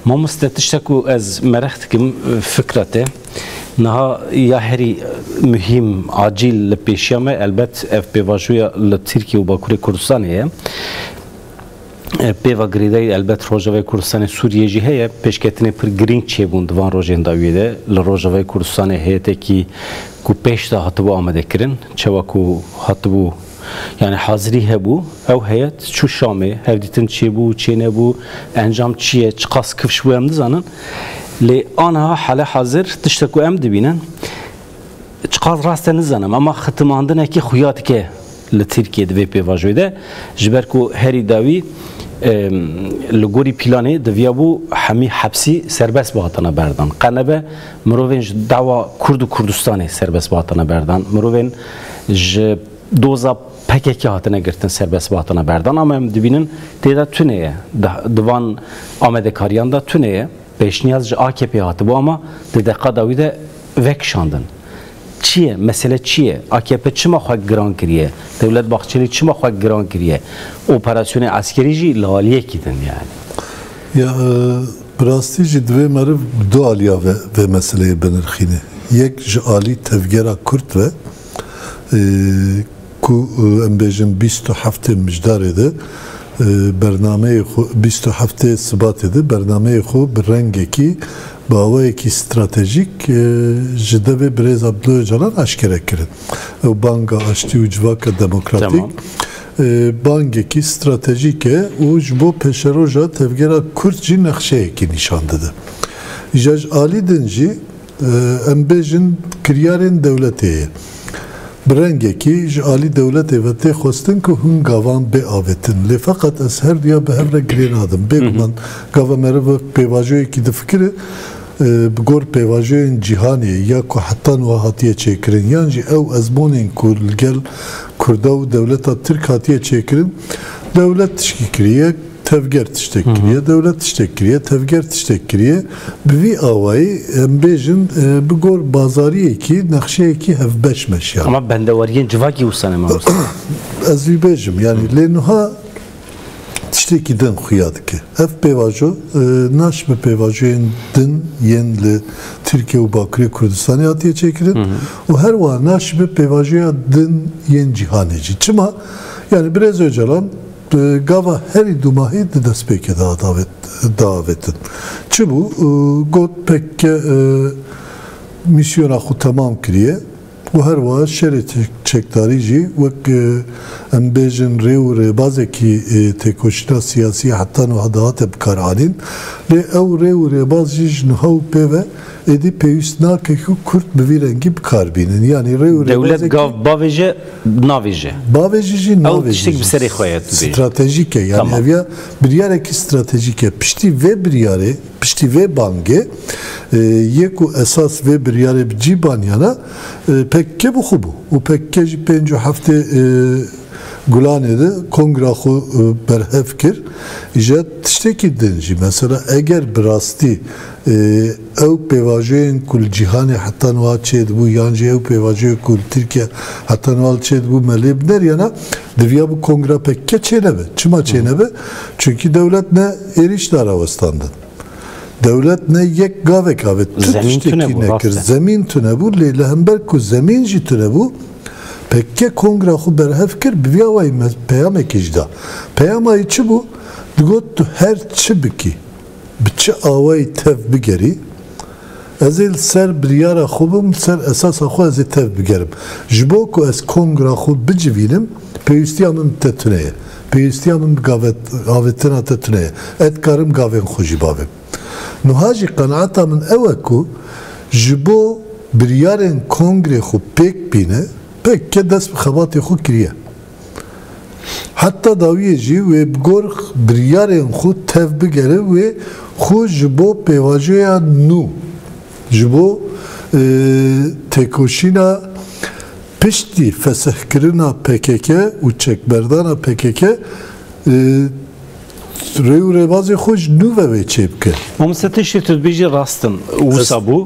Mamoste tişta ku ez merix dikim fikra te niha ya herî muhîm acîl li pêşiya me elbet ev pêvajoya li Tirkiye û Bakurê Kurdistanê ye. Pêva girêdayî elbet Rojavayê Kurdistanê Sûriyê jî heye. Pêşketinê pir girîng çêbûn di van rojên dawiyê de. Li Rojavayê Kurdistanê heyetekî ku pêşda hatibû amadekirin, çawa ku hatibû Yani hazirî hebû, ew heyet çû Şamê, hevdîtin çêbû, çênebû, encam çi ye, çiqas kifş bû em nizanin. Lê aniha hale hazir tişte ku em dibînin çiqas rast e nizanim ema xitimandinekî xuya dike li Tirkiyê di vê pêvajoyê de ji ber ku herî dawî li gorî pîlanê diviyabû hemî hepsî serbest bihatina berdan. Qe nebe Mirovên ji dava Kurd û Kurdistanê serbest hatine berdan, mirovên ji doza PKK'ê hatine girtin serbest hatine berdan ama em dibînin tê de tune ye. Di van amadekariyan de tune ye. Pêşniyaz ji AKP'ê hatibû ama di deqa dawî de vekişandin. Çi ye? Mesele çi ye? AKP çima xwe giran kiriye? Dewlet Bahçelî çima xwe giran kiriye? Operasyonê eskerî jî li aliyekî din yani. Ya bi rastî jî divê meriv bi du aliya ve vê meseleyê binirxîne. Yek ji alî tevgera Kurd ve ku em bêjin bîst û heftê Mijdarê de bernameyê xwe bîst û heftê Sibatê de bernameyê xwe bi rengekî bi awayekî stratejîk ji devê Birêz Abdullah Ocalan eşkere kirin. Ew banga aştî û civaka demokratîk bangekî stratejîk e û ji bo pêşeroja tevgera Kurd jî nexşeyekî nîşan dide. Ja ji alî din jî em bêjin kiryarên dewletê ye. Bi rengekî ji alî dewletê ve tê xwestin ku hûn gavan biavêtin. Lê feqet ez her duya bi hev re girê nadim. Bêguman gava meriv wek pêvajoyekî difikire bi gor pêvajoyên cîhanê ya ku heta niha hatiye çêkirin yan jî ew ezmonên ku li gel Kurda û dewleta Tirk hatiye çêkirin, dewlet tişkî kiriye, tevger tiştek kiriye, dewlet tiştek kiriye, tevger tiştek kiriye. Bi vî awayî em bêjin bi gor bazariyekî nexşeyekî hevbeş meşiya. Ama bendeweriyên civakî wisa ne mamoste. Ez vî bêjim yanî lê nuha tiştekî din xuya dike. Ev pêvajo naş bi pêvajoyên din yên li Tirkiye û Bakurê Kurdistanê hatiye çêkirin û her wiha naş bi pêvajoya din yên cîhanê jî. Çima? Yanî Birêz Ocalan gava herî du mahî di destpêkê de hat diavêtin. Çi bû? Got pkk mîsyona xwe temam kiriye. Û her wiha şerê çekdarî jî wek em bêjin rê û rêbazekî têkoşîna siyasî heta niha dihate bikaranîn. Lê ew rê û rêbaz jî ji niha û pê ve êdî pêwîst nake ku kurd bi vî rengî bikar bînin. Yanî rê û rêbazekî. Dewlet gav bavêje, navêje. Bavêje jî, navêje jî. Ew tiştek bi serê xwe ye tu bêjî. Stratejîk e. Yanî ev ya biryarekî stratejîk e. Piştî vê biryarê. Piştî vê bangê yê ku esas vê biryarê bi cî baniyana pkk bi xwe bû û pkk jî pênc û heftê Gulanê de kongra xwe berhev kir îje tiştekî din jî mesela eger bi rastî ew pêvajoyên ku li cîhanê heta niha çêdibû yan jî ew pêvajoyê ku li Tirkiye heta niha li çêdibû me lê bineriyana diviya bi kongra pkk çênebe çima çênebe çunkî dewlet ne Êrîş da rawestandin. Dewlet ne yek gavek avê, tu Zemîn tiştekî tune bû, rast nekir. e. Zemîn tune bû lê li hember ku zemîn jî tune bû, PKK kongra xwe berhev kir bi vî awayî me peyamekê jî da. Peyama wî çi bû? Digot tu her çi bikî, bi çi awayî tev bigerî, Ez ê li ser biryara xwe bim, li ser esasa xwe ez ê tev bigerim. Ji bo ku ez kongra xwe bicivînim, pêwîstiya min bi te tune ye. Pêwîstiya min bi gavet, avêtina te tune ye. Ez dikarim gavên xwe jî bavêm. Nuha jî qenaeta min ew e ku ji bo biryarên kongrê xwe pêk bîne, pek e, dest bi xebatê xwe kiriye. Heta dawiyê jî wê bi gor biryarên xwe tev bigere wê xwe ji bo pêvajoya nû, ji bo têkoşîna piştî fesihkirina pkk û çekberdana pkk rê û rêbazê xwe ji nû ve wê çêbike. Mame Sî tiştê tu dibêjî rast in. Wisa bû.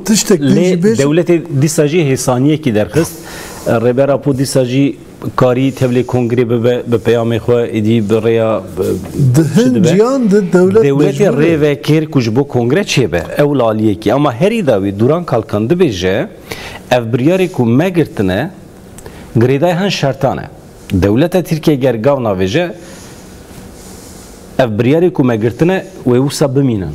Lê dewletê dîsa jî hêsaniyekî derxist. Rêber Apo dîsa jî. Karî tevlê kongrê bibe bi peyamê xwe êdî bi rêya Di hin ciyan di dewlet mecbûr e. Dewletê rê vekir ku ji bo kongre çêbe. Ew laliyekî. Ama herî dawî Duran Kalkan dibêje ev biryarê ku me girtine girêdayî hin şertan e. Dewleta Tirkiyeyê ger gav navêje ev biryarê ku me girtine wê wisa bimînin.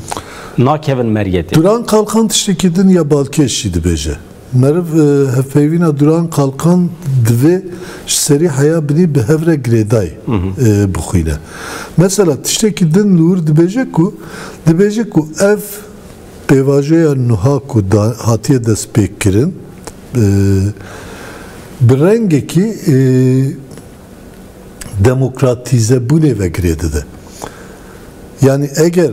Nakevin meriyetê. Duran Kalkan tiştekî din ya balkêş jî dibêje. Meriv hevpeyvîna duran qalkan divê ji serî heya binî bi hev re girêdayî bixwîne. Mesela tiştekî din li wir dibêje ku dibêje ku ev pêvajoya nuha ku hatiye destpêkkirin bi rengekî demokratîzebûnê ve girê dide. Yanî eger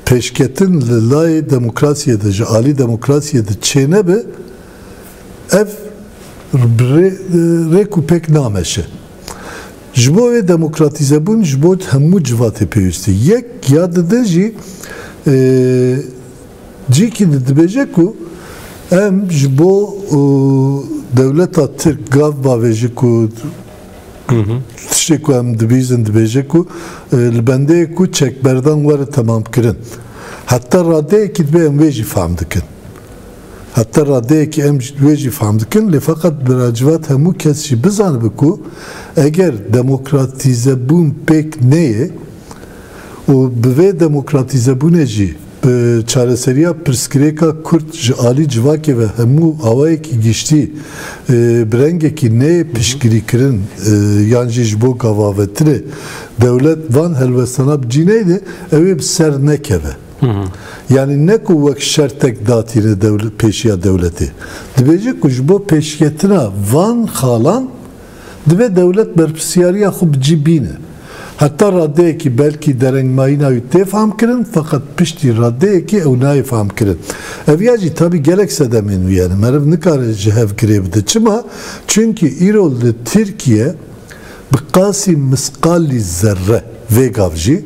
pêşketin li layê demokrasiyê de ji alî demokrasiyê de çênebe ev rêk û pêk nameşe. Ji bo wê demokratîzebûn ji bo hemû civatê pêwîst e. Yek ya di din jî Cîkî de dibêje ku em ji bo dewleta Tirk gav bavêjin ku tiştê ku em dibîzin dibêje ku li bendeyê ku çekberdan were temamkirin. Heta radeyekî dibe em wê jî fehm dikin. Heta radeyekî em wê jî fehm dikin lê feqet bi racivat hemû kes jî bizanibe ku eger demokratîzebûn pêk neyê û bi vê demokratîzebûnê jî bi çareseriya pirsgirêka Kurd ji alî civakê ve hemû awayekî giştî bi rengekî neyê piştgirîkirin yan jî ji bo gavavetinê dewlet van helwestana bi cî neyde ew ê bi ser nekeve. Yanî ne ku wek şertek datîne pêşiya dewletê. Dibêje ku ji bo pêşketina van xalan Divê dewlet berpirsyariya xwe bi cî bîne. Heta radeyekî belkî derengmayîna wî tê famkirin feqet piştî radeyekê ew nayê famkirin. Ev ya jî tabî gelek sedemên wî hene. Meriv nikare ji hev girê bide. Çima? Çimkî îro li Tirkiye bi qasî misqalî zerre vê gav jî,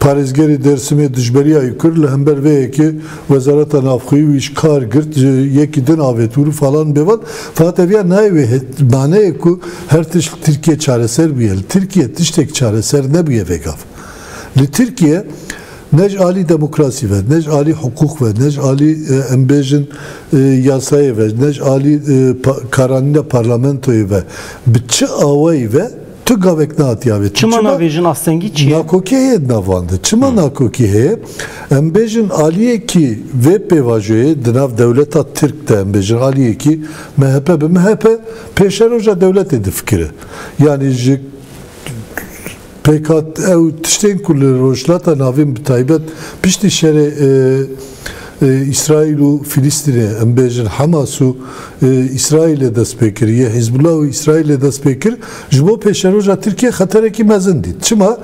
Parêzgerê Dêrsimê dijberiya Îkur li hember vê yekê Wezareta Navxweyî û Îşkar girt ji yekî din avêt û falan bêvan fahat ev ya nayê wê maneyê ku her tişt li Tirkiyê çareser bûye. Li Tirkiyê tiştek çareser nebûye vegav. Li Tirkiyê ne ji alî demokrasî ve, ne ji alî hiqûq ve, ne ji alî em bêjin yasayê ve, ne ji alî karanîna parlamentoyê ve bi çi awayî ve, Tu gavek natiya vê. Çima navê jin astengî çi ye? Nakokî heye di navan de. Çima nakokî heye? Em bêjin aliyekî vê pêvajoyê di nav dewleta Tirk de em bêjin aliyekî MHP bi MHP pêşeroja dewletê difikire. Yanî ji pêk hat ew tiştên ku li Rojhilata Navîn bi taybet piştî şerê Îsraîl û Filîstînê, em bêjin Hemas û Îsraîlê dest pê kir, yê Hîzbullah û Îsraîlê dest pê kir, ji bo pêşeroja Tirkiyê xeterekî mezin dît. Çima?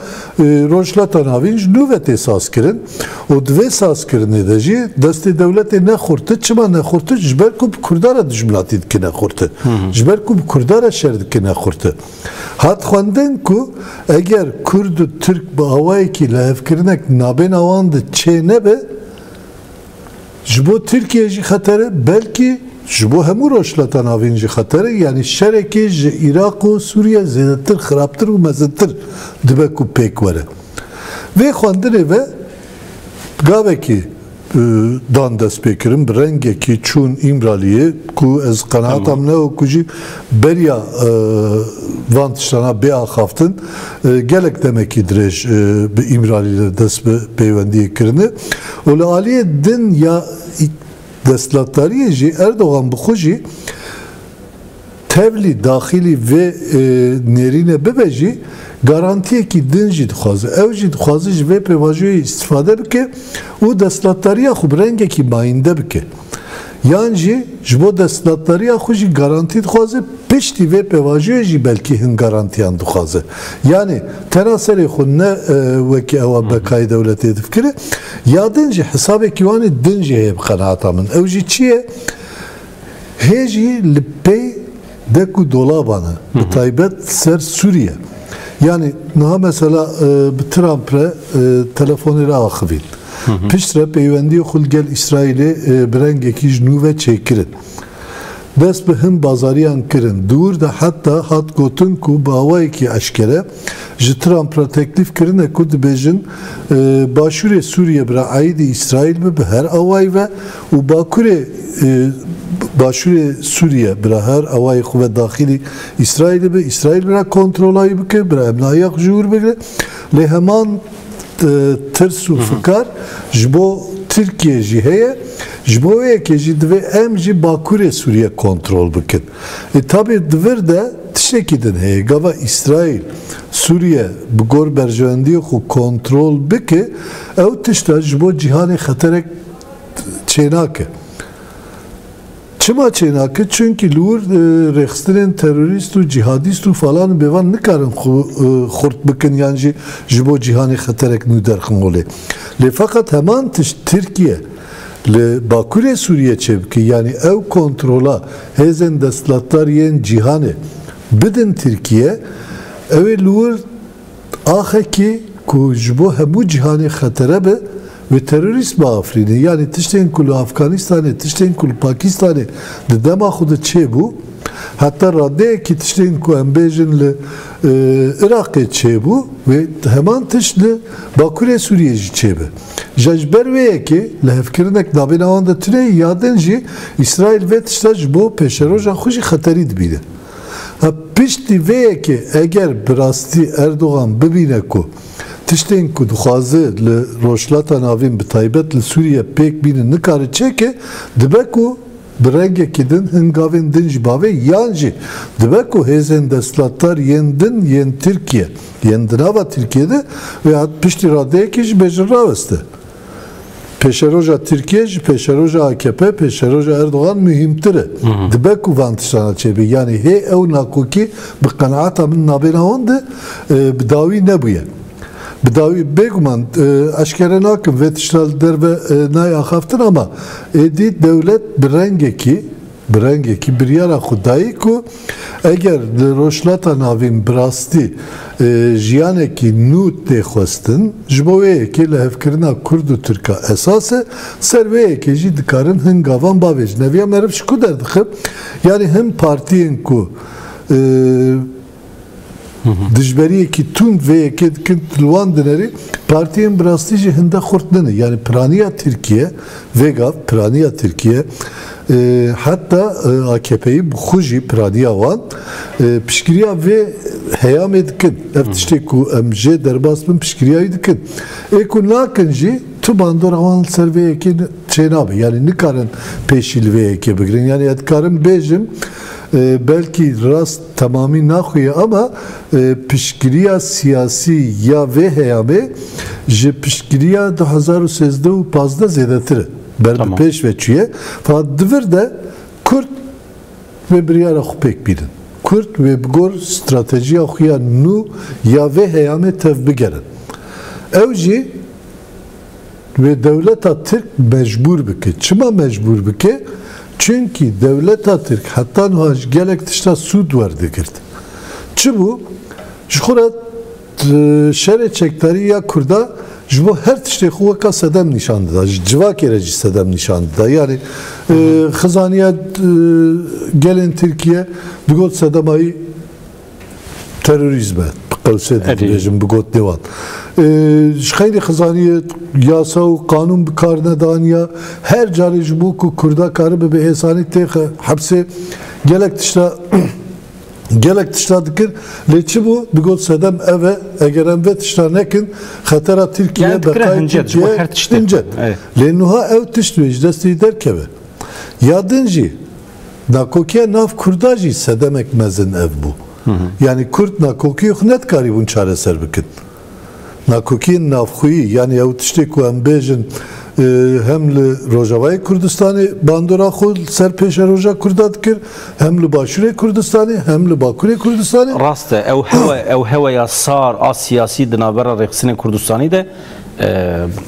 Rojhilata Navîn ji nû ve tê sazkirin û di vê sazkirinê de jî destê dewletê ne xurtir. Çima ne xurtir? Ji ber ku bi Kurda re dijminatî dikine xurtir. Ji ber ku bi Kurda re şer dikine xurtir. Hat xwendin ku eger kurd û tirk bi awayekî lihevkirinek di nabêna wan de çê nebe, ji bo Tirkiyeyê jî xeter e, belkî ji bo hemû Rojhilata Navîn jî xeter e, yanî şerekê ji Iraq û Sûriye zêdetir, xirabtir û mezintir dibe ku pêk were. Vê xwendinê ve gavekî. dan destpêkirin bi rengekî çûn Îmraliyê ku ez qenaata min e ku jî beriya van tiştan a bê axaftin gelek demekî dirêj bi Îmralî re dest bi peywendiyê kirine û li aliyê din ya destlatdariyê jî Erdogan bi xwe jî Tevlî daxilî vê nêrîne bibe jî garantiyekî din jî dixwaze. Ew jî dixwaze ji vê pêvajoyê îstîfade bike û desthilatdariya xwe bi rengekî mayînde bike. Yan jî ji bo desthilatdariya xwe jî garantî dixwaze, piştî vê pêvajoyê jî belkî hin garantiyan dixwaze. Yanî tena serê xwe ne wekî ewa bekayê dewletê difikire ya din jî hesabekî wanê din jî heye bi qenata min. Ew jî çi ye? Hê jî li pey dek û dolaban e, bi taybet ser Sûriye. Yanî niha mesela bi Trump re telefonê re axivîn. Piştre peywendiyê xwe li gel Îsraîlê bi rengekî ji nû ve çêkirin. Dest bi hin bazariyan kirin. Di wir de heta hat gotin ku bi awayekî eşkere ji Trump re teklîf kirine ku dibêjin Başûrê Sûriye bira aîdî Îsraîl be bi her awayî ve Û bakurê başûrê Sûriye bira her awayê xwe ve daxilî Îsraîlê be, Îsraîl bira kontrola wî bike, bira hemnahiya xwe ji wir bigire. Lê heman tirs û fikar ji bo Tirkiyê jî heye. Ji bo wê yekê jî divê em jî bakurê Sûriye kontrol bikin. Lê tabê di vir de tiştekî din heye. Gava Îsraîl Sûriye bi gor berjewendiyê xwe kontrol bike, ew tişt e ji bo cîhanê xeterek çênake. Çima çênake? Çunkî li wir rêxistinên terorîst û cîhadîst û falan û bêvan nikarin xwe xurt bikin yan jî ji bo cîhanê xeterek nû derxin holê. Lê feqet heman tişt Tirkiye li bakurê Sûriyê çêbike yanî ew kontrola hêzên destlatdar yên cîhanê bidin Tirkiye, ewê li wir Axekî ku ji bo hemû cîhanê xetere be, wê terorîst biafirîne. Yanî tiştên ku li Afganîstanê, tiştên ku li Pakîstanê di dema xwe de çêbû, heta radeyekî tiştên ku em bêjin li Iraqê çêbû, wê heman tişt li Bakurê Sûriyê jî çêbe. Ja ji ber wê yekê li hevkirinek navêna wan de tune ye, ya din jî Îsraîl vê tişta ji bo pêşeroja xwe jî xeterî dibîne. Piştî vê yekê eger bi rastî Erdogan bibîne ku tiştên ku dixwaze li Rojhilata Navîn bi taybet li Sûriye pêk bînin nikare çêke, dibe ku bi rengekî din hin gavên din jî bavê yan jî dibe ku hêzên desthilatdar yên din yên Tirkiye yên di nava Tirkiye de vê hat piştî radeyekê jî bêjin raweste. Pêşeroja Tirkiye ji pêşeroja akp, pêşeroja Erdogan muhîmtir e. Dibe ku van tiştana çêbe. Yanî hê ew nakokî bi qenaata min navêna wan de bi dawî nebûye. Bi dawî bêguman eşkere nakim vê tişta li derve nayê axaftin ama êdî dewlet bi rengekî Bi rengekî biryara xwe dayî ku eger di Rojhilata Navîn bi rastî jiyanekî nû tê xwestin, ji bo wê yekê lihevkirina kurd û tirka esas e, ser wê yekê jî dikarin hin gavan bavêjin. Ev ya meriv ji ku derdixe? Yanî hin partiyên ku. Dijberiyekî tund vê yekê dikin li wan dinerê, partiyên bi rastî jî hinde xurt nine. Yanî piraniya Tirkiye, vê gav piraniya Tirkiye heta AKP'yî bi xwe jî piraniya wan piştgiriya vê heyamê dikin. Ev tiştê ku em jê derbas bin piştgiriya wî dikin. Ê ku nakin jî tu bandora wan li ser vê yekê çênabe. Yanî nikarin pêşî li vê yekê bigirin. Yanî ez dikarim bêjim belkî rast. Temamî naxwe ye ama piştgiriya siyasî ya vê heyamê ji piştgiriya du hezar û sêzdeh û pazdeh zêdetir e. Ber bi pêş ve çûye. Fakat di vir de Kurd vê biryara xwe pêk bînin. Kurd wê bi gor stratejiya xwe ya nû ya vê heyamê tevbigerin. Ew jî Divê dewleta Tirk mecbûr bike. Çima mecbûr bike? Çimkî dewleta Tirk heta nuha ji gelek tişta sûd werdigirt. Çi bû? Ji xwe re şerê çekdarî ya Kurda ji bo her tiştê xwe weka sedem nîşan dida. Ji civakê re jî sedem nîşan dida. Yanî xizaniya gelên Tirkiye di got sedema wî Terorîzm e. Bi qewsê de dibêjim bi gotinê wan. Ji xeyrê xizaniye yasa û qanûn bi kar nedaniya. Her carê ji bo ku kurda karibe bi hêsanî têxe hepsê gelek tişta gelek tişta dikir lê çi bû digot sedem ev e eger em vê tişta nekin xetera Tirkiye beqayê Tirkiye hincet. Lê nuha ew tişt wê ji destê derkeve. Ya din jî Nakokiya nav Kurda jî sedemek mezin ev bû. Yanî Kurd nakokiyê xwe nedikarîbûn çareser bikin. Nakokiyên navxweyî yanî ew tiştê ku em bêjin hem li Rojavayê Kurdistanê bandora xwe li ser pêşeroja Kurda dikir, hem li Başûrê Kurdistanê, hem li Bakurê Kurdistanê. Rast e, ew hewa ew heweya sar a siyasî di navbera rêxistinên Kurdistanî de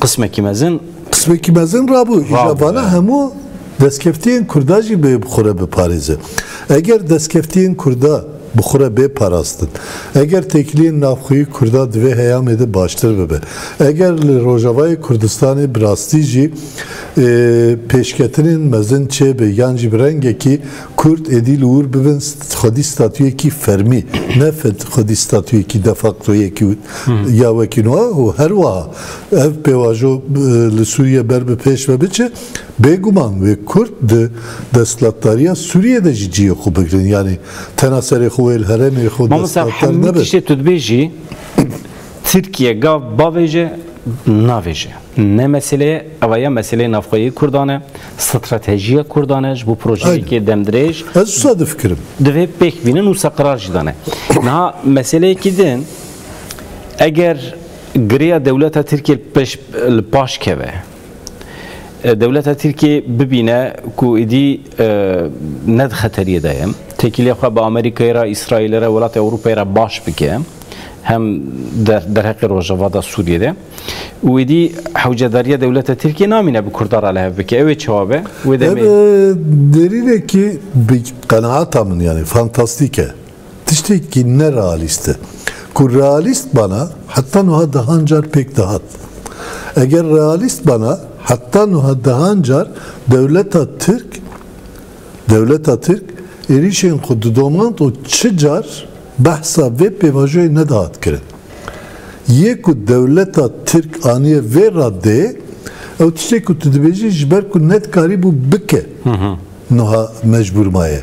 qismekî mezin. Qismekî mezin rabû. Îja vana hemû. Destkeftiyên Kurda jî bê bi xwe re biparêze. Eger destkeftiyên Kurda bi xwe re bê parastin, eger têkiliyên navxweyî Kurda di vê heyamê de baştir bibe, eger li Rojavayê Kurdistanê bi rastî jî pêşketinên mezin çêbe yan jî bi rengekî Kurd êdî li wir bibin xwedî statuyekî fermî ne xwedî statuyekî defakto yekî ya wekî wiha û herwiha ev pêvajo li Sûriye ber bi pêş ve biçe, Bêguman wê Kurd di desthilatdariya Sûriyeyê de jî cihê xwe bigirin. Yanî tena serê xwe wê li herêmê xwe desthilatdar nebe. Mamosta hemû tiştê tu dibêjî Tirkiye gav bavêje navêje. Ne mesele ye. Ew ya meseleyê navxweyî Kurdan e, stratejiya Kurdan e ji bo projeyekê demdirêj. Ez wisa difikirim. Divê pêk bînin û wisa qirar jî dane. Niha meseleyekî din eger girêya dewleta Tirkiye li paş keve, Dewleta Tirkiyê bibîne ku êdî ne di xeteriyê de ye. Têkiliyê xwe bi Amerîkayê re, Îsraîlê re, welatê Ewropayê re baş bike. Hem derheqê rojavada Sûriyê de. Û êdî hewcedariya dewleta Tirkiyê namîne bi Kurda re li hev bike. Ew ê çawa be? Wê demê. Ev derînekî bi qenaata min yanî fantastîk e. Tiştekî ne realîst e. Ku realîst bana heta nuha dehan car pêk dihat. Eger realîst bana heta nuha dehan car dewleta Tirk dewleta Tirk êrîşên xwe didomand û çi car behsa vê pêvajoyê nedihat kirin. Yê ku dewleta Tirk aniye vê raddeyê ew tiştê ku tu dibêjî ji ber ku nedikarîbû bike nuha mecbûr maye.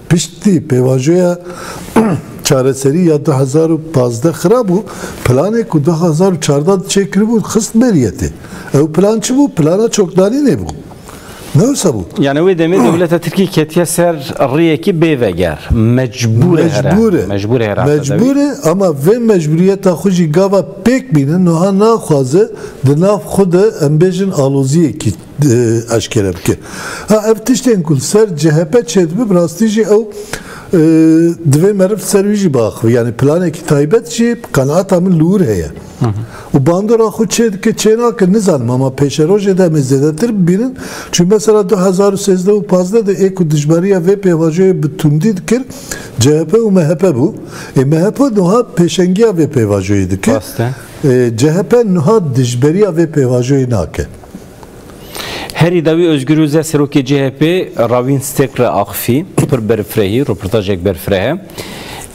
Piştî pêvajoya çareserî ya du hezar û pazdeh xirabû, planê ku du hezar û çardeh de çêkiribû xist beriyetê. Ew plan çi bû? Plana çokdarînê bû. Ne wisa bû. Yanî wê demê dewleta Tirkî ketiye ser riyekî bêveger. Mecbûr e here. Mecbûr e. Mecbûr e here. Mecbûr e ama vê mecbûriyeta xwe jî gava pêk bînin, nuha naxwaze di nav xwe de em bêjin aloziyekî. eşkere bike. Ha ev tiştên ku li ser chp çêdibe bi rastî jî ew divê meriv li ser wî jî biaxivî. Yanî planekî taybet jî bi qenaata min li wir heye. Û bandora xwe çê dike çê nake nizanim ama pêşerojê de em ê zêdetir bibînin. Çunke mesela du hezar û sêzdeh û pazdeh de ê ku dijbariya vê pêvajoyê bi tundî dikir chp û mhp bû. Ê mhp nuha pêşengiya vê pêvajoyê dike. Chp nuha dijberiya vê pêvajoyê nake. Herî dawî Ozgur Ozel serokê CHP'ê Ravîn Stêk re axifî, pir berfirehî, rûportajek berfirehe.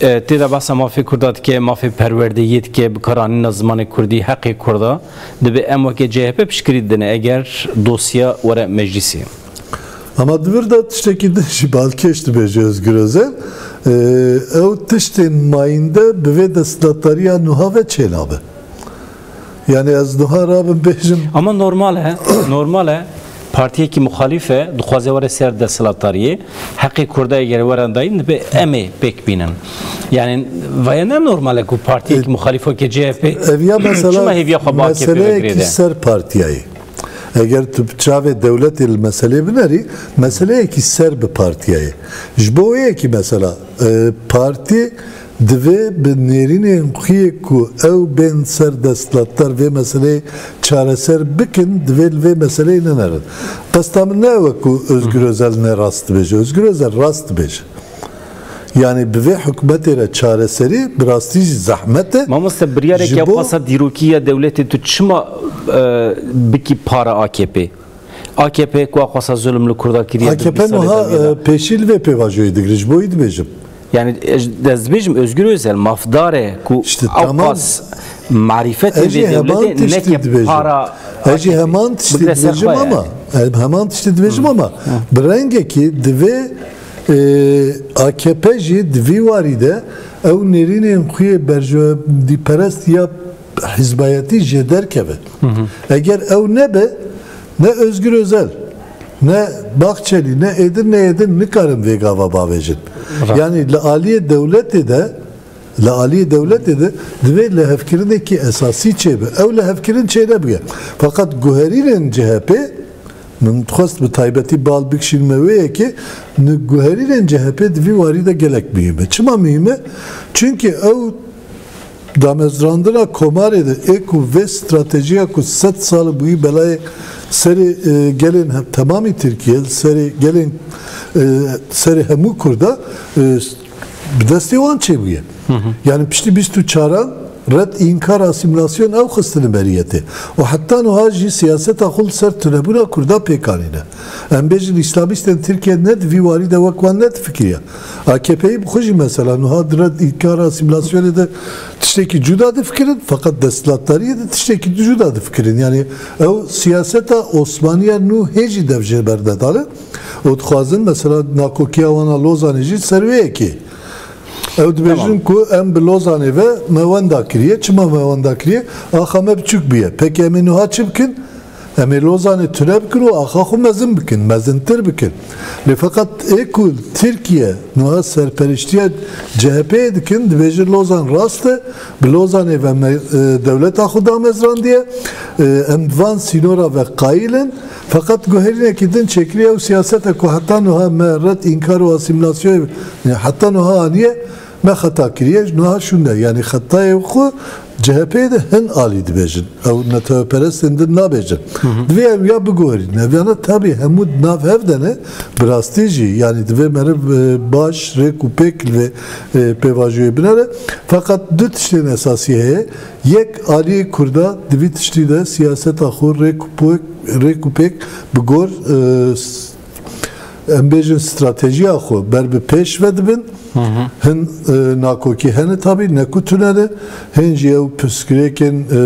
Tê de behsa mafê Kurda dike, mafê perwerdeyiyê dike, bikaranîna zimanê Kurdî, heqê Kurda. Divê em weke CHP piştgirî didin eger dosya were meclîsê. Ama di vir de tiştekî din jî balkêş dibêje Ozgur Ozel, Ew tiştên mayînde bi vê desthilatdariya nuha ve çênabe. Yani ez duha rabim bêjim. Ama normal e, normal e. Partiyekî muxalîf e, dixwaze were ser desthilatdariyê. Heqê Kurda eger werin dayîn dibe em ê pêk bînin. Yani vaya ne normal e ku partiyekî muxalîf weke CHP Eviya mesela çima hêviya xwe bi AKP ve meseleyekî girêde? ser partiyayê. Eger tu bi çavê dewletê li meselê binerî, meseleyekî ser bi partiyayê. Ji bo wê yekî mesela e, partî Divê bi nêrînên xwe yê ku ew bên ser desthilatdar vê meseleyê çareser bikin, divê li vê meseleyê nenerin. Qesta min ne ew e ku Ozgur Ozel ne rast dibêje. Ozgur Ozel rast dibêje. Yanî bi vê hikûmetê re çareserî bi rastî jî zehmet e. Mamoste biryarek ya pasa dîrokî ya dewletê tu çima bikî para AKP'ê? AKP'ye ku axwasa zulm li Kurda kiriye di bî salê de wî de. AKP niha pêşî li vê pêvajoyê digire. Ji bo wî dibêjim. Yani dezbêjim Özgür Özel mafdare ku işte, tamam. marifet ve devlete neke para Eci heman tiştê dibêjim ama heman tiştê dibêjim ama bi rengekî divê AKP jî di vî warî de ew nêrînên xuyê berjewebîperest ya Hizbayetî jê derkeve. Eger ew nebe, ne Ozgur Ozel, ne Bahçelî, ne êdin ne êdin nikarin vê gava bavêjin. Yanî li aliyê dewletê de, li aliyê dewletê de divê lihevkirinekî esasî çêbe. Ew lihevkirin çênebige. Feqet guherînên CHP'ê, min dixwest bi taybetî bal bikişînim me wê yekê, guherînên CHP'ê di vî warî de gelek muhîm e. Çima muhîm e? Çimkî ew Damezrandina komarê de ê ku vê stratejiya ku sed sal bûyî belayê serê gelên temamî Tirkîye li serê gelên serê hemû Kurda bi destê wan çêbûye. Yanî piştî bîst û çaran red înkar asîmîlasyon ew xistine berîyetê û heta nuha jî siyaseta xwe li ser tunebûna Kurda pêk anîne. Em bêjin îslamîstên Tirkîye ne di vî warî de wek wan ne difikiriye AKP'yê bi xwe jî mesela nuha di red ê kara asîmîlasyonê de tiştekî cuda difikirin feqet desthilatdariyê de tiştekî di cuda difikirin. Yanî ew siyaseta Osmaniya nû hê jî dev ji ber nedane û dixwazin mesela nakokiya wan a Lozanê jî ser wê yekê. Ew dibêjin ku em bi Lozanê ve me wenda kiriye. Çima me wenda kiriye? Axa me biçûk bûye. Peki em ê nuha çi bikin? Em ê Lozanê tune bikin û axa xwe mezin bikin, mezintir bikin. Lê feqet ê ku Tirkiye nuha serperiştiya CHP'yê dikin, dibêjin Lozan rast e, bi Lozanê ve me dewleta xwe damezrandiye, em bi van sînora ve qayîl in. Feqet guherînekî din çêkirî ew siyasete ku heta nuha me red înkar û asîmîlasyoyê heta nuha aniye, Me xeta kiriye ji niha şûne. Yanî xetayê xwe CHP'ê de hin alî dibêjin. Ew neteweperestên din nabêjin. Divê ew ya biguherînin. Ev yana tabî hemû di nav hev de ne, bi rastî jî yanî divê meriv baş rêk û pêk li vê pêvajoyê binere. Feqet du tiştên esasî heye. Yek, aliyê Kurda di vî tiştî de siyaseta xwe rêk û pêk bi gor Em bêjin stratejiya xwe ber bi pêş ve dibin. Hin e, nakokî hene tabî ne ku tune ne, hên jî ew pirsgirêkên e,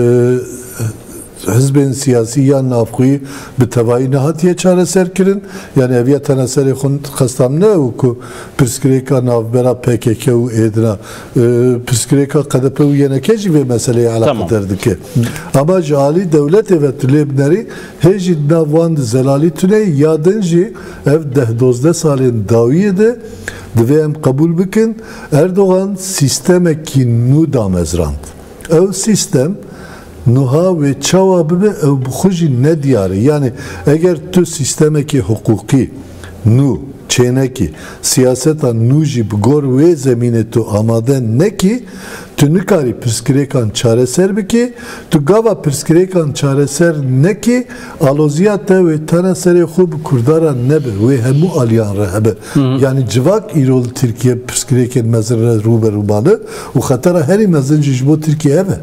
hizbên siyasî yan navxwî bi tevayî nehatiye çareserkirin. Yani ev ya tena serê xwe qesta min ne ew ku pirsgirêka navbera PKK û êdina. E, pirsgirêka KDP û YNK jî vê meseleyê Tamam. eleqedar dike. Ama ji alî dewletê ve tu lê binerî Hê jî di nav wan de Zelalî tune ye ya din jî ev deh dozdeh salên dawiyê de divê em qebûl bikin Erdogan sîstemekî nû damezrand. Ew sîstem nuha wê çawa bibe ew bi xwe jî nediyar e. Yanî eger tu sîstemekê hiqûqî, nû, çênekî, siyaseta nû jî bi gor wê zemînê tu amade nekî, tu nikarî pirsgirêkan çareser bikî, tu gava pirsgirêkan çareser nekî, aloziya te wê tena serê xwe bi Kurdaran nebe, wê hemû aliyan re hebe. Yanî civak îro li Tirkiye pirsgirêkên mezin re rû be rû mane û xetera herî mezin jî ji bo Tirkiye hebe.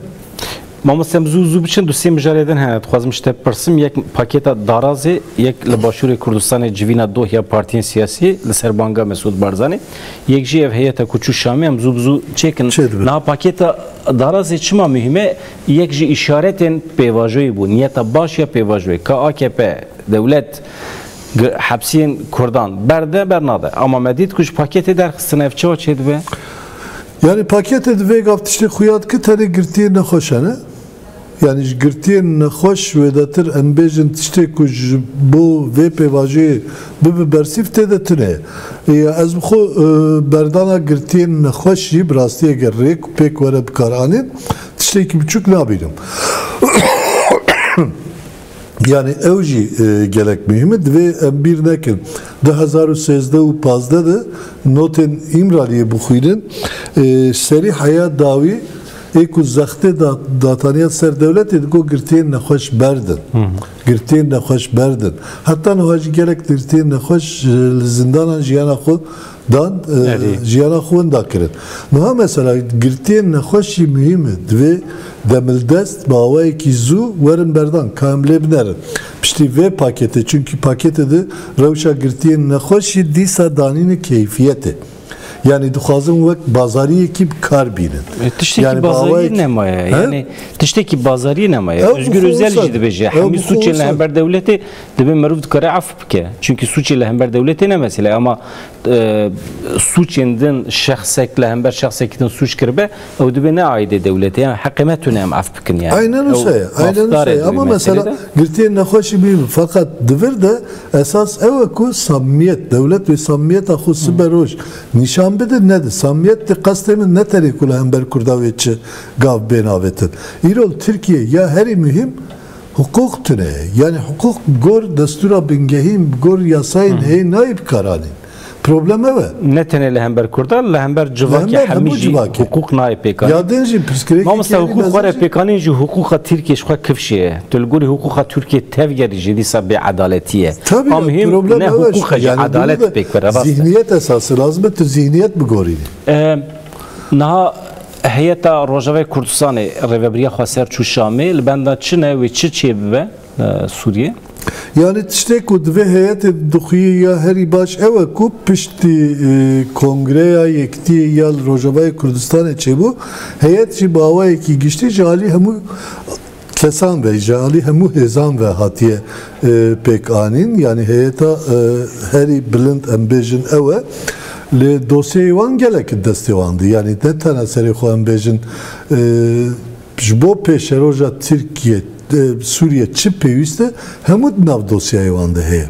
Mamoste em zû zû biçin du sê mijarê din hene. Dixwazim ji te bipirsim yek pakêta darazê yek li Başûrê Kurdistanê civîna dohya partiyên siyasî li ser banga Mesûd Barzanî yek jî ev heyeta ku çû Şamê em zû bi zû çêkin. Niha pakêta darazê çima muhîm e? Yek ji îşaretên pêvajoyê bû. Niyeta baş ya pêvajoyê ka akp, dewlet hepsiyên kurdan berde bernade. Ama me dît ku ji pakêtê derxistin ev çawa çêdibe? Yanî paketê di vê gav tiştê xuya dike tenê girtiyên nexweş hene. Yanî ji girtiyên nexweş wêdetir em bêjin tiştê ku ji bo vê pêvajoyê bibe bersîv tê de tune ye. Ya ez bi xwe berdana girtiyên nexweş jî bi rastî eger rêk û pêk were bikaranîn tiştekî biçûk nabînim. Yanî ew jî gelek muhîm e. Divê em bîr nekin du hezar û sêzdeh û pazdeh de notên Îmraliyê bixwînin, serî heya dawî ê ku zextê da dataniya ser dewletê di got girtiyên nexweş berd in. Girtiyên nexweş berd in. Heta niha jî gelek girtiyên nexweş li zindanan jiyana xwe Dan jiyana xwe winda kirin. Niha mesela girtiyên nexweşî muhîm in. Divê demildest bi awayekî zû werin berdan ka em lê binerin piştî vê paketê çunkî paketê di rewşa girtiyên nexweşî dîsa danîne keyfiyetê. Yanî dixwazin wek bazariyekî bi kar bînin. Tiştekî bazariyê nemaye. Yanî tiştekî bazariyê nemaye. Ozgur Ozel jî dibêje hemî sûcên li hember dewletê Divê meriv dikare ef bike. Çunkî sûçê li hember dewletê ne mesele ama e, sûçên din şexsek li hember şexsekî din sûç kiribe ew divê ne aîdê dewletê yan heqê me tune em ef bikin yani. Aynen Ew wisa ye. Aynen mafdar wisa ê ye. divê Ama meselê mesela de. girtiyên nexweşî bîn fakat di vir de esas ew e ku samimiyet, dewlet wê samimiyeta xwe sibe roj nîşan bide ne di. Samimiyet di qestê min ne tenê ku li hember Kurda wê çi gav bên avêtin. Îrol Tirkiye ya herî muhîm Hiqûq tune ye. Yanî hiqûq bi gor destûra bingehîn, bi gor yasayên heyîn nayê bikaranîn. Problem ew e. Ne tenê li hember kurdan, li hember civakê hemî jî hiqûq nayê pêkanîn. Mamosta hiqûq were pêkanîn jî hiqûqa Tirkiyê ji xwe kifşê ye. Tu li gorî hiqûqa Tirkiyê tevgerî jî dîsa bêedaletî ye. A muhîm ne hiqûq e jî edalet pêk bire. Zîhniyet esas e. Lazim e tu zîhniyet bigorînî. Niha Heyeta Rojavayê Kurdistanê rêveberiya xwe ser çû Şamê li benda çi ne wê çi çê bibe Sûriyê? Yanî tiştê ku divê heyetê dixwî ya herî baş ew e ku piştî Kongreya Yekitiyê ya li Rojavayê Kurdistanê çêbû heyet jî bi awayekî giştî ji alî hemû kesan ve ji alî hemû hêzan ve hatiye pêkanîn yanî heyeta herî bilind em bêjin ew e lê dosyeyê wan gelek di destê wan di yanî ne tena serê xwe em bêjin ji bo pêşeroja Tirkiye Sûriye çi pêwîst e hemû di nav dosyeyê wan de heye.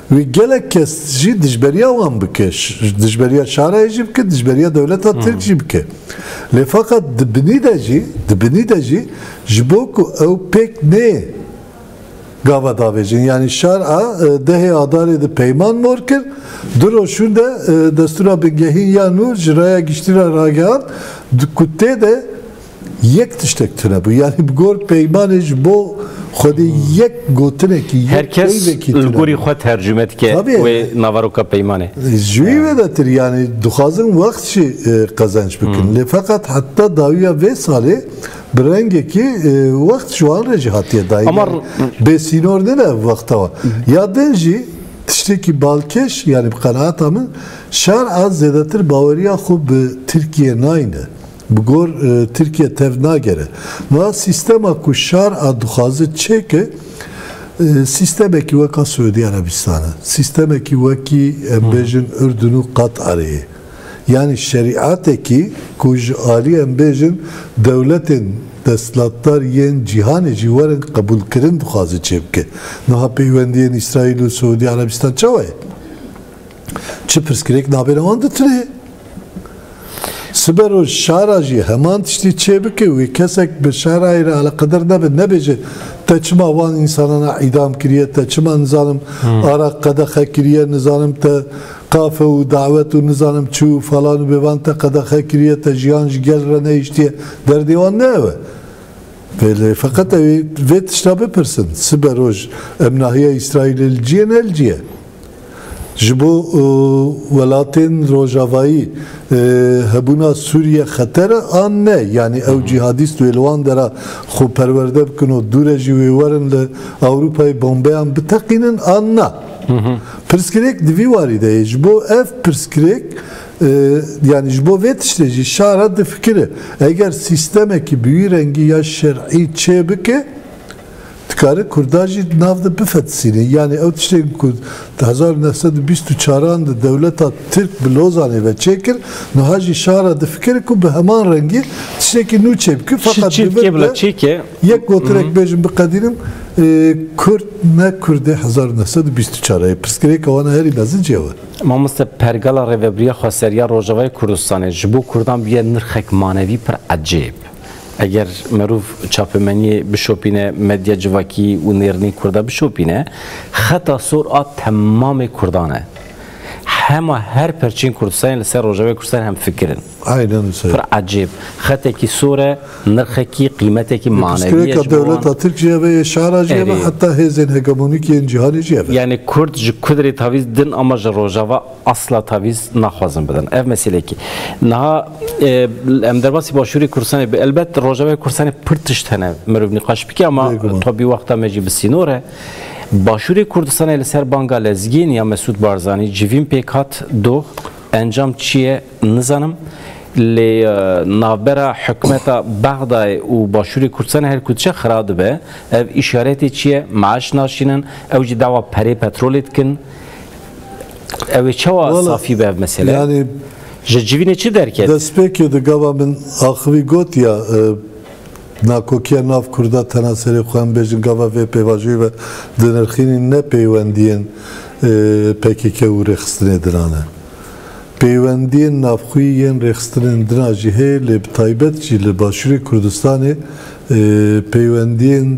Wê gelek kes jî dijberiya wan bike, dijberiya şarayê jî bike, dijberiya dewleta Tirk jî bike. Lê feqet di binî de jî, di binî de jî ji bo ku ew pêk neyê gava davêjin. Yanî şar a dehê Adarê di peyman mor kir, du roj hûn de destûra bingehîn ya nû ji raya giştî re ragihand ku tê de Yek tiştek tune bû. Yanî bi gor peymanê ji bo Xwedê yek gotinekî, yek peyvekî tune bû. Her kes li gorî xwe tercume dike wê naveroka peymanê. Ji wî ve de tir yanî dixwazin wext jî qezenç bikin. Lê feqet heta dawiya vê salê bi rengekî wext ji wan re jî hatiye dayîn. Yanî bê sînor nîn ev wexta wan. Ya din jî tiştekî balkêş yanî bi qenaata min şer a zêdetir baweriya xwe bi Tirkiyeyê nayîne. Bi gor Tirkiye tev nagere. Niha sîstema ku şar a dixwaze çêke, sîstemekî weka Siûdî Erebîstan e. Sîstemekî wekî em bêjin Urdun û Qatarê ye. Yanî şerîatekî ku ji alî em bêjin dewletên destlatdar yên cîhanê jî werin qebûlkirin dixwaze çêbike. Niha peywendiyên Îsraîl û Siûdî Erebîstan çawa ye? Çi pirsgirêk nabêne wan ditinê. Siber û şara jî heman tiştî çêbike wê kesek bi şarayê re aliqedir nebe nebêje te çima wan însanan a îdam kiriye te çima nizanim hmm. ara qedexe kiriye nizanim te kafe û dawet û nizanim çi û falan û bêvan te qedexe kiriye te jiyan ji gel re neyiştiye derdê wan ne ew e. Vêlê feqet ew vê tişta bipirsin siber roj em nahiye îsraîlê li ciyê ne li ciyê. Ji bo welatên rojavayî hebûna Sûriye xeter e an ne? Yanî ew cîhadîst wê li wan dera xwe perwerde bikin û dû re jî wê werin li Ewropayê bombeyan biteqînin an na? Pirsgirêk di vî warî de ye. Ji bo ev pirsgirêk yanî ji bo vê tiştê jî şara difikire. Eger sîstemekî bi wî rengî ya şerî çê bike Dikare Kurdan jî di nav de bifetisîne. Yanî ew tiştên ku di hezar û neh sed û bîst û çar an de dewleta Tirk bi Lozanê ve çêkir, niha jî şa re difikire ku bi heman rengî tiştekî nû çêbike. Feqet divir be yek gotirek bêjim biqedînim, Kurd ne Kurdê hezar û neh sed û bîst û çar e. Yê pirsgirêka wan a herî mezinc ew e. Mamoste pergala Rêvebiriya Xweseriya Rojavayê Kurdistanê ji bo Kurdan bûye nirxek manevî pir ecêb. Eger merov çapemeniyê bişopîne, medya civakî û nêrînî kurda bişopîne, xeta sor a temamê kurdan e. Hema her perçeyên Kurdistanê li ser Rojavayê Kurdistanê hemfikir in. Aynen wisa. Pir ecêb. Xetekî sor e, nirxekî, qîmetekî manevî ye ji bo wan. Dewleta Tirk jî hebe, şara jî hebe, heta hêzên hegemonîk yên cîhanê jî hebe. Yanî Kurd ji kudrê tavîz din ama ji Rojava asla tavîz naxwazin bidin. Ev meselekî. Niha em derbasî başûrê Kurdistanê bi elbet Rojavayê Kurdistanê pir tişt hene mirov nîqaş bike ama tabî wexta me jî bi sînor e. Başûrê Kurdistanê li ser banga lezgên ya Mesûd Barzanî civîn pêk hat doh encam çi ye nizanim. Lê navbera hikûmeta Bexdayê û başûrê Kurdistanê her ku diçe xira dibe. Ev îşaretê çi ye? Meaş naşînin, ew jî dawa perê petrolê dikin. Ew ê çawa Wala, safî be ev mesele? Yani Ji civînê çi derket? destpêkê di gava min axivî got ya e, nakokiya nav Kurda tena serê xwe em bêjin gava vê pêvajoyê ve dinirxînîn ne peywendiyên e, pkk û rêxistinê dinan e. Peywendiyên navxwî yên rêxistinên dina jî heye lê bi taybet jî li Başûrê Kurdistanê e, peywendiyên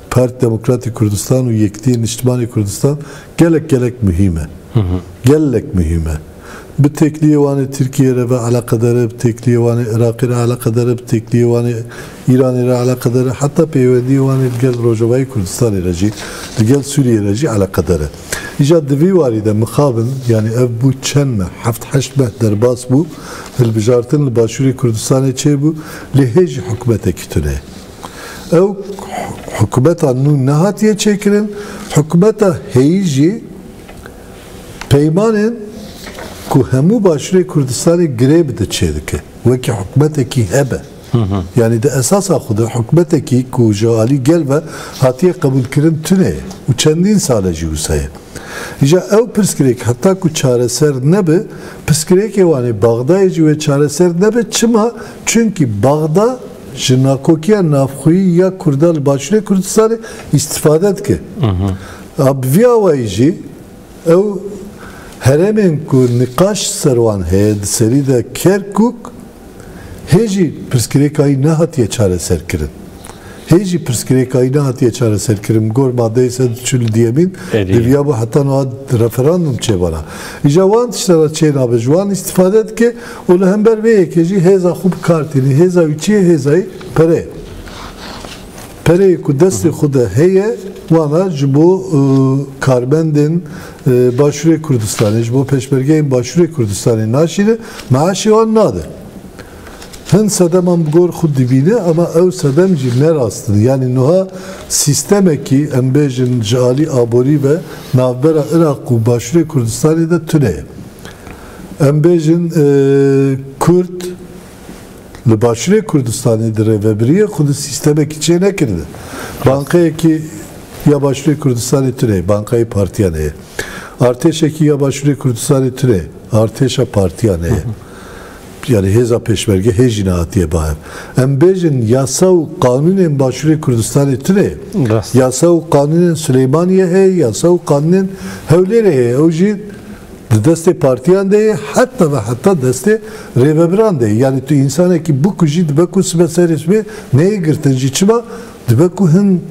Parti Demokratî Kurdistan û Yekitîyê Niştimanê Kurdistan gelek gelek muhîm e. Gelek muhîm e. Bi têkliyê wan ê Tirkiyeyê re ve eleqedar e, bi têkliyê wan ê Iraqê re eleqedar e, bi têkliyê wan ê Îranê re eleqedar e, heta peywendiyê wan ê li gel Rojavayê Kurdistanê re jî, li gel Sûriyeyê re jî eleqedar e. Îja di vî warî de mixabin, yanî ev bû çend meh, heft heşt meh derbas bû, hilbijartin li Başûrê Kurdistanê çêbû, lê hê jî hikûmetekî tune ye. Ew hikûmeta nû nehatiye çêkirin, hikûmeta heyî jî peymanên ku hemû Başûrê Kurdistanê girê bide çêdike, wekî hikûmetekî hebe. Yanî di esasa xwe de hikûmetekî ku ji alî gel ve hatiye qebûlkirin tune ye û çendîn sal e jî wisa ye. Îja ew pirsgirêk heta ku çareser nebe, pirsgirêkê wan ê Bexdayê jî wê çareser nebe, çima? Çimkî Bexda Ji nakokiya navxweyî ya Kurdan li Başûrê Kurdistanê îstîfade dike. A bi vî awayî jî ew herêmên ku niqaş li ser wan heye di serî de Kerkûk hê jî pirsgirêka wî nehatiye çareserkirin. Hê jî pirsgirêka wî nehatiye çareserkirin bi gor madeyê sed û çil û duyemîn diviyabû heta niha referandûm çêbana. Îja wan tiştan re çênabe ji wan îstîfade dike. Û li hember vê yekê jî hêza xwe bi kar tînî. Hêza wî çi ye? Hêza wî pere ye. Pereyê ku destê xwe de heye wana ji bo karbendên Başûrê Kurdistanê, ji bo pêşmergeyên Başûrê Kurdistanê naşîne, meaşê wan nade. Hin sedeman bi gor xwe dibîne ama ew sedem jî ne rast in. Yanî nuha sîstemekî em bêjin ji alî aborî ve navbera Iraq û Başûrê Kurdistanê de tune ye. Em bêjin Kurd li Başûrê Kurdistanê di rêvebiriyê xwe de sîstemekî çê nekiribe. Bankayekî ya Başûrê Kurdistanê tune, bankayê partiyan heye. Artêşekî ya Başûrê Kurdistanê tune, artêşa partiyan heye. Yanî hêza pêşmerge hê jî nehatiye ba hev. Em bêjin yasa û qanûnên Başûrê Kurdistanê tune. Yasa û qanûnên Silêmaniyê heye, yasa û qanûnên Hewlêrê heye. Ew jî Di destê partiyan de ye heta ve heta destê rêvebiran de ye. Yanî tu însanekî bikujî dibe ku sibe serê sibê neyê girtin jî. Çima? Dibe ku hin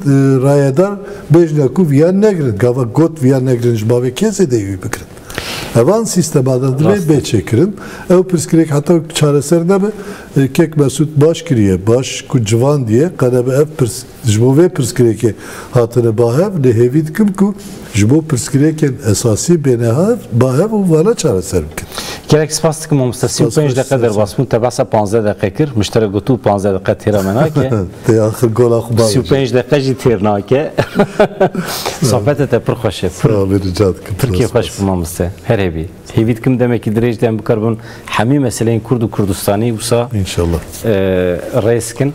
rayedar bêjne ku viyan negirin. Gava got viyan negirin ji bavê kê zêdeyî wî bigirin? Evan sîstema de divê bê çêkirin. Ew pirsgirêk heta wek çareser nebe. Kek Mesûd baş kiriye. Baş ku civandiye qedebe ev pirs. Ji bo vê pirsgirêkê hatine bahev lê hêvî dikim ku ji bo pirsgirêkên esasî bêne bahev û wana çareser bikin. Gelek spas dikim mamosta sî û pênc deqe derbas bûn te behsa panzdeh deqe kir min ji te re got bû panzdeh deqe têra me nake. Tê axir gola xwe bavêje. Sî û pênc deqe jî têr nake. Sohbeta te pir xweş e. Sağ ol rica dikim. Pir kêfxweş bû mamoste. Her hêvî. Hêvî dikim demekî dirêj de em bikarbin hemî meseleyên kurd û kurdistani wisa rêz kin.